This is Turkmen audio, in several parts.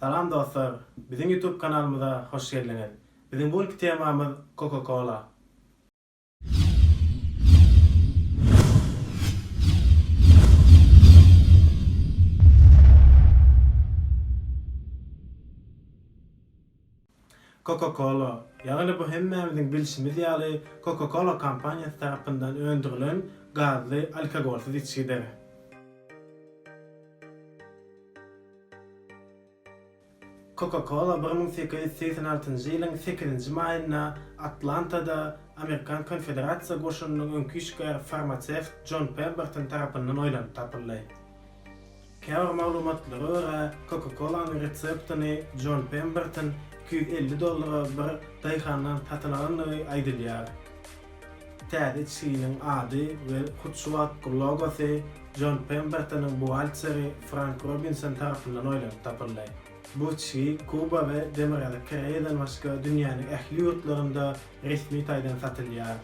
Salam dostlar! Biziň YouTube kanalymyza hoş geldiňiz! Biziň bu günki temamyz Coca-Cola. Coca-Cola, ýagny bu hemmämiziň bilşimiz ýaly Coca-Cola kompaniýasy tarapyndan öndürilen gazly alkogolsyz içgidir. Coca-Cola bir müň sekiz ýüz segsen altynjy ýylyň sekizinji maýynda Atlantada Amerikan Konfederasiýa goşunynyň öňki işgäri farmasewt Jon Pemberton tarapyndan oýlanyp tapyldy. Käbir maglumatlara görä, Coca-Cola-nyň reseptini Jon Pemberton iki ýüz elli dollara bir daýhandan satyn alandygy aýdylýar. Täze içginiň ady we hut şu wagtky logosy Jon Pembertonyň buhgalteri Frank Robinson tarapyndan oýlanyp tapyldy. Bu içgi Kuba we Demirgazyk Koreýadan başga dünýäniň ähli ýurtlarynda resmi taýdan satylýar.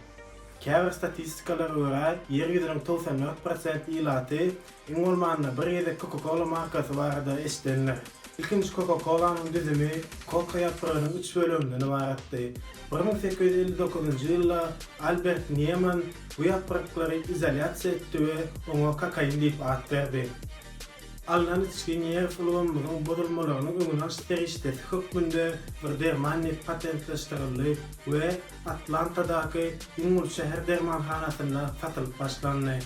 Käbir statistikalara görä, Ýer ýüzüniň togsan dört prosent ilaty iň bolmanda bir gezek Coca-Cola markasy barada eşidendir. Ilkinji Coca-Cola-nyň düzümi koka ýapragynyň üç böleginden ybaratdy. Bir müň sekiz ýüz elli dokuzynjy ýylda Albert Nieman bu ýapraklary izolýasiýa etdi we oňa kokain diýip at berdi. Alnan içgi nerw ulgamymyzyň bozulmalarynyň öňüni alyş serişdesi hökmünde bir derman diýip patentleşdirildi we Atlantadaky iň uly şäher dermanhanasynda satylyp başlandy.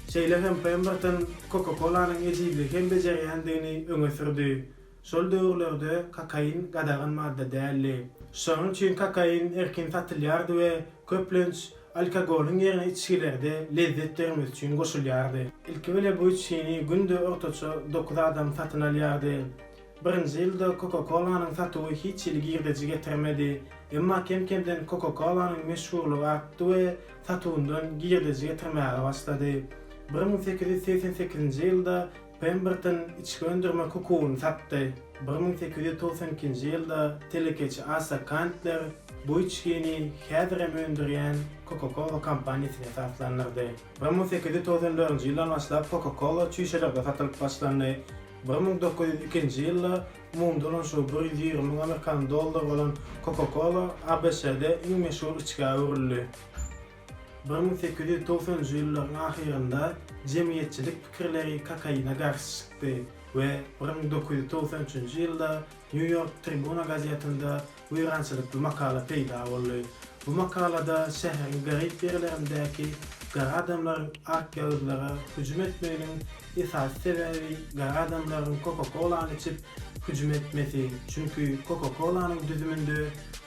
Şeýle hem Pemberton Coca-Cola-nyň ejizligi hem bejerýändigini öňe sürdi. Şol döwürlerde kokain gadagan madda däldi. Şonuň üçin kokain erkin satylýardy we köplenç alkogolyň ýerine içgilerde lezzet bermek üçin goşulýardy. Ilkibile bu içgini günde ortaça dokuz adam satyn alýardy. Birinji ýylda Coca-Cola-nyň satuwy hiç hili girdeji getirmedi. Emma kem-kemden Coca-Cola-nyň meşhurlygy artdy we satyndan girdeji getirmäge başlady. Bir müň sekiz ýüz segsen sekizinji ýylda Pemberton içgi öndürmek hukugyny satdy. Bir müň sekiz ýüz togsan ikinji ýylda telekeçi Asa Kantler bu içgini häzirem öndürýän Coca-Cola kompaniýasyny esaslandyrdy. Bir müň sekiz ýüz togsan dördünji ýyldan başlap Coca-Cola çüýşelerde satylyp başlandy. Bir müň dokuz ýüz ikinji ýylda umumy dolanyşygy bir ýüz ýigrimi müň amerikan dollary bolan Coca-Cola ABŞ-de iň meşhur içgä öwrüldi. Bir müň sekiz ýüz togsanynjy ýyllaryň ahyrynda jemgyýetçilik pikirleri kokaine garşy çykdy we bir müň dokuz ýüz togsan üçünji ýylda New York Tribuna gazetinde Weýrançylykly makala peýda boldy. Bu makalada şäheriň garyp ýerlerindäki gara adamlaryň akýagyzlara hüjüm etmeginiň esasy sebäbi gara adamlaryň koka-kolany içip hüjüm etmesi, çünki koka-kolanyň düzüminde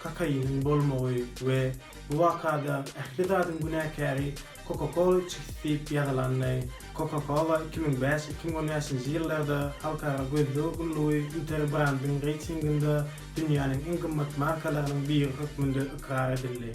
kokainiň bolmagy we bu wakada ähli zadyň günäkäri Coca-Cola Chips diýip ýazylanda, Coca-Cola iki müň bäş, iki müň on bäşinji ýyllarda halkara gözleg gullugy Interbrandyň reýtinginde dünýäniň iň gymmat markalarynyň biri hökmünde ykrar edildi.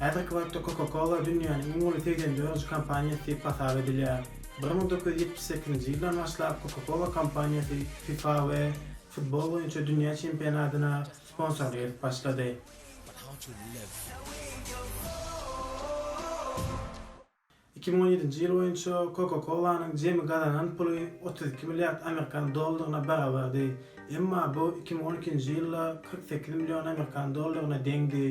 Häzirki wagtda Coca-Cola dünýäniň iň uly segsen dördünji kompaniýasy diýip hasap edilýär. Bir müň dokuz ýüz ýetmiş sekizinji ýyldan başlap Coca-Cola kompaniýasy fifa we futbol boýunça dünýä çempionatyna Sponsor gelip başlady. Iki müň on ýedinji ýyl boýunça Coca-Cola-nyň jemi gazanan puly otuz iki milliard amerikan dollaryna barabardy, emma bu iki müň on ikinji ýylda kyrk sekiz million amerikan dollaryna deňdi.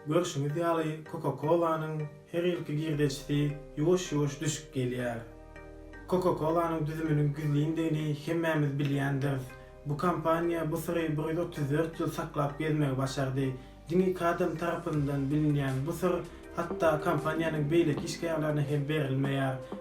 Görşüňiz ýaly, Coca-Cola-nyň her ýylky girdejisi ýuwaş-ýuwaş düşüp gelýär. Coca-Cola-nyň düzüminiň gizlindigini hemmämiz bilýändiris. Bu kompaniýa bu syry bir ýüz otuz dört ýyl saklap gezmegi başardy. Diňe kadam tarapyndan bilinýän bu syr hatda kompaniýanyň beýleki işgärlerine hem berilmeýär.